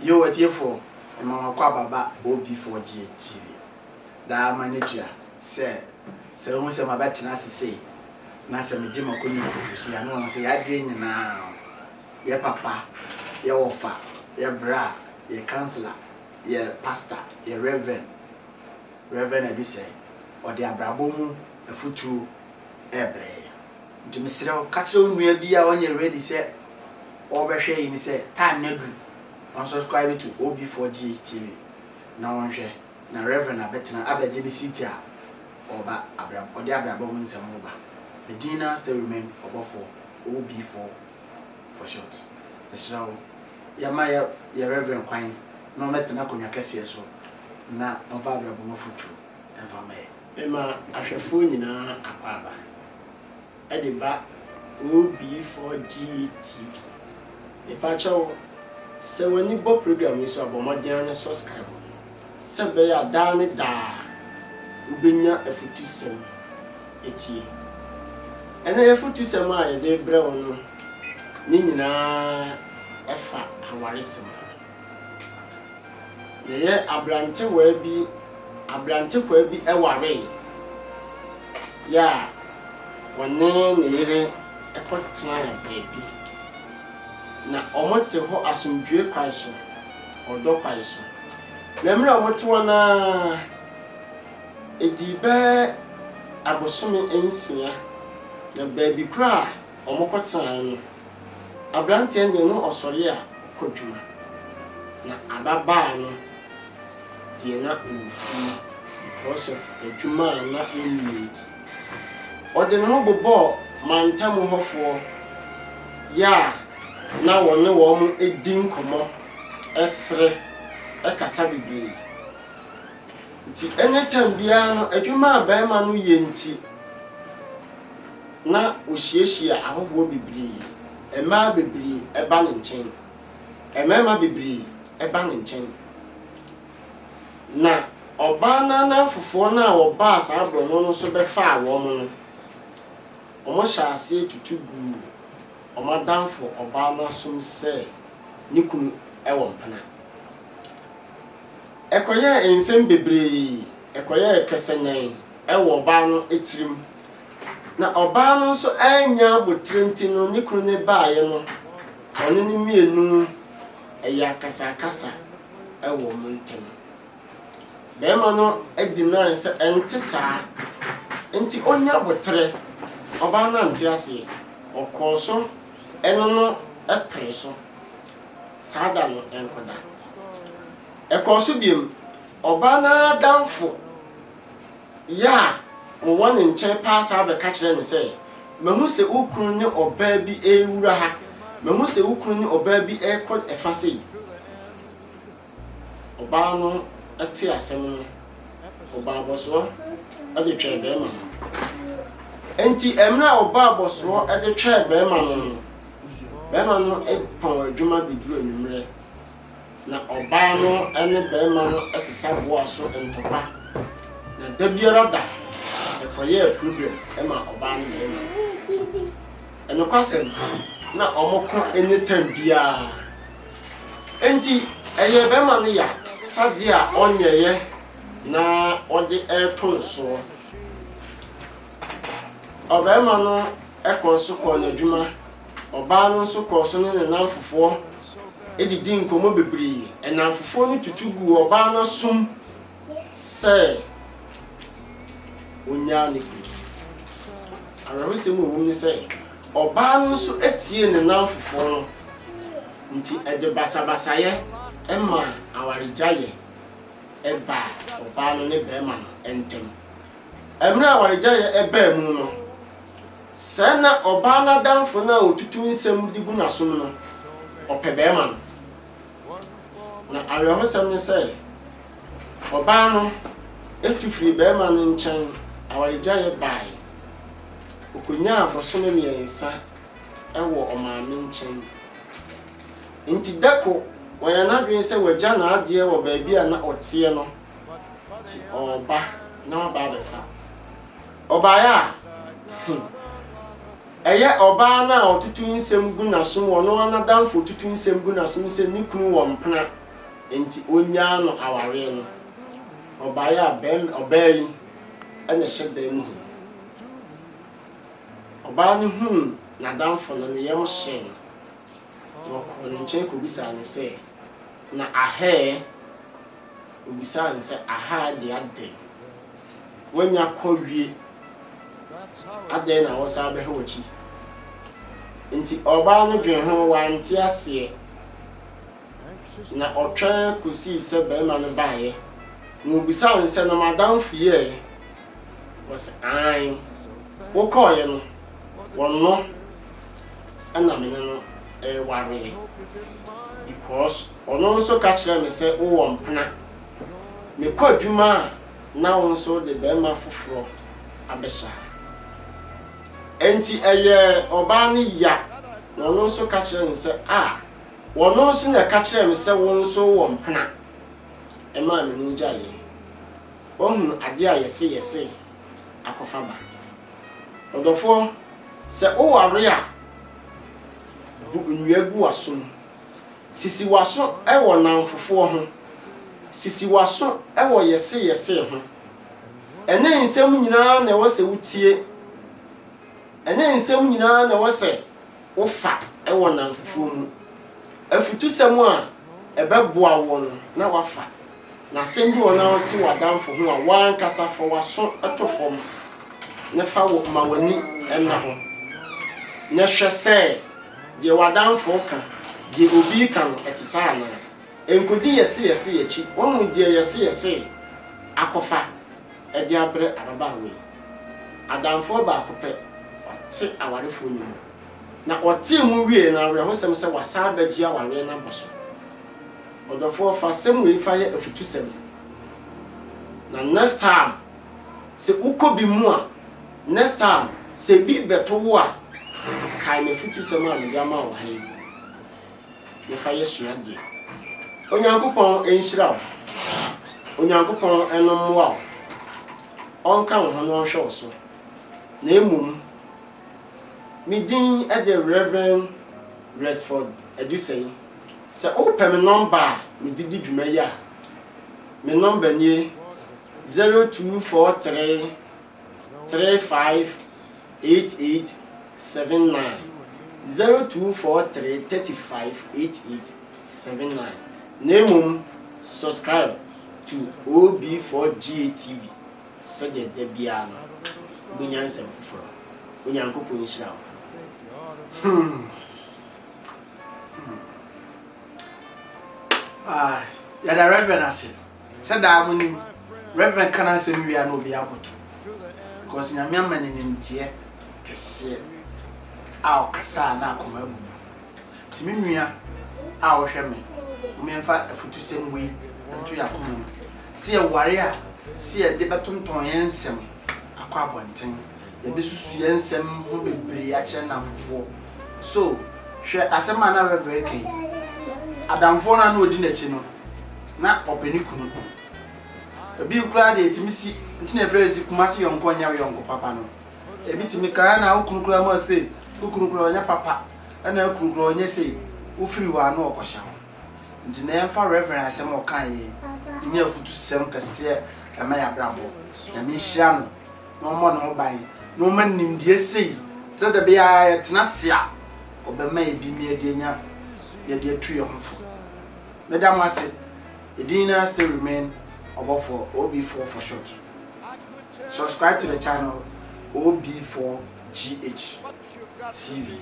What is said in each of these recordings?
Yo atiefo mma w'akwaba ba OB4GA TV daa ma no tua sɛ sɛ wohu sɛ mabɛtena ase sei na sɛ megye m'akonnwa mu kosi ha na wahu sɛ y'adeɛ nyinaa yɛ papa yɛ wɔfa yɛ bra yɛ kansela yɛ pasta yɛ revɛn Reverend Adusɛe ɔde abrabɔ mu afutuo ɛbrɛ yɛn. Nti mesrɛ wo ka kyerɛ wo nua bi a ɔnyɛ ready sɛ ɔrebɛhwɛ yi no sɛ time no aduru ɔnsubscribe to OB4GH TV na ɔnhwɛ na Rev. Abɛtena abɛgye ne seat a ɔreba abrab ɔde abrabɔ mu nsɛm ho ba. Me din naa still remain Ɔbɔfoɔ OB4 for short. Mesrɛ wo yɛma yɛ yɛ Rev. kwan na ɔmmɛtena akonnwa kɛseɛ so na ɔmfa abrabɔ mu afotuo mfa mma yɛn. Mema ahwɛfoɔ nyinaa akwaaba. Ɛde ba OB4GTV. Mepa kyɛ wo, sɛ w'ani bɔ program yi so a, bɔ mmɔden ara ne subscribe no, sɛ ɛbɛyɛ a daa ne daa wobɛnya afutusɛm atie. Ɛnnɛ y'afutusɛm a yɛde rebrɛ wo no ne nyinaa fa awaresɛm ho. Yɛyɛ aberantewaa bi, aberantekwaa bi waree. Yɛ a wɔne ne yere kɔtenaa baabi. Na wɔte hɔ asomdwoe kwan so, ɔdɔ kwan so. Na mmerɛ a wɔte hɔ no ara, ɛdii bɛyɛ abosome nsia, na baabi koraa a wɔkɔtenaeɛ no, Aberanteɛ nyɛ no ɔsɔre a ɔkɔ dwuma, na ababaa no deɛ na ɔwɔ fie because of adwuma a na ɔnni nti. Ɔde ne ho bobɔɔ mantam hɔfoɔ yɛ a na wɔne wɔn di nkɔmmɔ, sere, kasa bebree. Nti anytime biara no adwuma a barima no yɛ nti, na ohyiahyia ahɔhoɔ bebree, mmaa bebree ba ne nkyɛn, mmarima bebree ba ne nkyɛn. Na ɔbaa no ananfofoɔ no a wɔbaa saa borɔno no so bɛfaa wɔn no, wɔhyɛɛ aseɛ tutu guu wɔn adamfo ɔbaa no asom sɛ ne kunu wɔ mpena. Ɛkɔyɛɛ nsɛm bebree, ɛkɔyɛɛ kɛsɛnɛn wɔ ɔbaa no tirim, na ɔbaa no nso annya abotire nti no ne kunu no baeɛ no wɔne no mmienu yɛ akasakasa wɔ wɔn ntam. Barima no dinae sɛ ɛnte saa nti ɔnnya aboterɛ. Ɔbaa no ante aseɛ, ɔkɔɔ so ne no pere so saa da no nko da. Ɛkɔɔ so biom, ɔbaa no ara adamfo, yɛ a wɔwɔ ne nkyɛn paa saa bɛka kyerɛ no sɛ, Mahu sɛ wo kunu ne ɔbaa bi rewura ha. Mahu sɛ wo kunu ne ɔbaa bi rekɔ ɛfa sei. Ɔbaa no tee asɛm no, ɔbaa abɔsoɔ de twɛɛ bɛrima no. Enti mmerɛ a ɔbaa abɔsoɔ de twɛɛ bɛrima no no, bɛrima no pɔn adwuma bɛduru anwummerɛ. na ɔbaa no ne barima no sesa boa so ntɔkwa, na da biara da ɛkɔyɛɛ problem ma ɔbaa ne barima no. Nokwasɛm, na wɔn ko nyɛ tam biara. Enti ɛyɛɛ barima no ya sadeɛ a ɔnyɛeɛ na ɔde reto nsoɔ. Ɔbarima no kɔɔ so kɔɔ n'adwuma. Ɔbaa no nso kɔɔ so ne ne nnamfofoɔ didii nkɔmmɔ bebree. Nnamfofoɔ no tutu guu ɔbaa no asom sɛ ɔnnyaa ne kunu. Awerɛhosɛm a ɛwom ne sɛ, ɔbaa no nso tiee ne nnamfofoɔ no, enti ɛde basabasayɛ maa awaregyaeɛ baa ɔbaa no ne barima no ntam. Mmerɛ a awaregyaeɛ baa mu no, Sɛɛ na ɔbaa no adamfo no a otutu nsɛm de gu n'asom no, ɔpɛ barima no. Na awerɛhosɛm ne sɛ, ɔbaa no tu firii barima no nkyɛn awaregyaeɛ baeɛ. Ɔkɔnyaa bosome mmiɛnsa wɔ ɔmaame nkyɛn. Enti da ko, wanya n'adwene sɛ wagya n'adeɛ wɔ baabi a na ɔteɛ no, nti ɔreba na waba abɛfa. Ɔbaeɛ a, hmm, ɛyɛ ɔbaa no a ɔtutu nsɛm gu n'asom, ɔno ara n'adamfo tutu nsɛm gu n'asom sɛ ne kunu wɔ mpena nti ɔnnyaa no awareɛ no. Ɔbaeɛ a, bɛrima, ɔbaa yi na ɛhyɛ dan mu hɔ. Ɔbaa no huu n'adamfo no, ne yam hyee no, na ɔkɔɔ ne nkyɛn kɔbisaa no sɛ, Na ahɛɛ? Obisaa no sɛ, Aha de adɛn? Woanya kɔ wie? Adɛn na wosan bɛhwɛ w'akyi? Enti ɔbaa no dwen ho, wante aseɛ, na ɔtwɛn kɔsii sɛ barima no baeɛ, na ɔbisaa no sɛ, Na m'adamfo yi ɛ? Wɔse, Aane, wokɔɔeɛ no, ɔno na me ne no rewareɛ, because ɔno nso ka kyerɛɛ me sɛ wowɔ mpena. Mekɔ adwuma a, na wo nso wode barima foforɔ abɛhyɛ ha. Enti ɛyɛɛ ɔbaa no ya, na ɔno nso ka kyerɛɛ no sɛ, Ah, ɔno nso na ɛka kyerɛɛ me sɛ wo nso wowɔ mpena, ɛmaa me ne wo gyaeeɛ. wɔahunu adeɛ a yɛse yɛse akɔfa ba. Ɔdɔfoɔ, sɛ woware a, bu nnua gu w'asom. Sisi w'aso wɔ nnamfofoɔ ho. Sisi w'aso wɔ yɛse yɛse ho. Ɛnyɛ nsɛm nyinaa na ɛwɔ sɛ wotie. Ɛnyɛ nsɛm nyinaa na ɛwɔ sɛ wofa wɔ nnamfofoɔ mu. Afutusɛm a ɛbɛboa woɔ no na woafa. Na sɛ bi wɔ hɔ na ɔte w'adamfo ho a, w'ankasa fa w'aso to fam na fa wo ma w'ani nna ho, na hwɛ sɛ deɛ w'adamfo reka, deɛ obi reka no, ɛte saa anaa. Nkɔdi yɛse yɛse akyi, woahu deɛ yɛse yɛse akɔfa de abrɛ ababaawa yi? Adamfoɔ baako pɛ, ɔte awarefoɔ no mu, na ɔtee mu wieeɛ no, awerɛhosɛm sɛ wasan abɛgye awareɛ no abɔ so. Ɔdɔfoɔ fa asɛm wei fa yɛ afutusɛm na next time sɛ wokɔ bi mu a, next time sɛ bi bɛto wo a, kae m'afutusɛm a mede ama wo ha yi na fa yɛ suadeɛ. Onyankopɔn nhyira wo, Onyankopɔn no mmoa wo, ɔnka wo ho na ɔnhwɛ wo so. Na mmom, me din de Rev. Resford Adusei. Sɛ wopɛ me nɔmba a medze dzi dwuma yi a, me nɔmba nye zero two four three three five eight eight seven nine, zero two four three thirty five eight eight seven nine, na mbom subscribe to OB4GATV sɛdeɛ da biara no wobɛnya nsɛm foforɔ. Onyankopɔn nhyira wo. Hmm. Ah, yɛda Reverend ase. Sɛ daa mo nim, Reverend ka n'asɛm wie a na obi aboto. Because Nyame ama ne nimdeɛ kɛseɛ a ɔkasa a na akoma abubu. Nti me nua a wohwɛ me, mo yɛmfa afutusɛm wei nto yɛn akoma mu. Sɛ yɛware a, sɛ yɛde bɛtontɔn yɛn nsɛm akɔ abɔnten. Yɛbɛsusu yɛn nsɛm ho bebree akyerɛ nnamfofoɔ. So hwɛ asɛm a na Rev. reka yi. Adamfoɔ no a na ɔdi n'akyi no, na ɔpɛ ne kunu. Ebi koraa deɛ ɛtumi si, nti na yɛfrɛ si Kumasi yɔnko nyɛ wo yɔnko papa no. Ebi tumi ka, ɛna wo kunu koraa ma sei, wo kunu koraa ɔnyɛ papa, ɛna wo kunu koraa ɔnyɛ sei, wofiri hɔ a na ɔkɔhyɛ hɔ. Nti na yɛmfa Rev. asɛm a ɔkaeɛ yi nyɛ afutusɛm kɛseɛ mma yɛn abrabɔ. Nyame nhyira no. na ɔmmɔ ne ho ban, na ɔma no nimdeɛ sei, sɛ da bi a yɛtena ase a, ɔbɛma yɛ bi na yɛde anya, yɛde atu yɛn ho fo. Meda mo ase. Yɛdin no ara still remain Ɔbɔfoɔ OB4 for short. Subscribe to the channel OB4GH TV.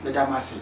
Meda mo ase.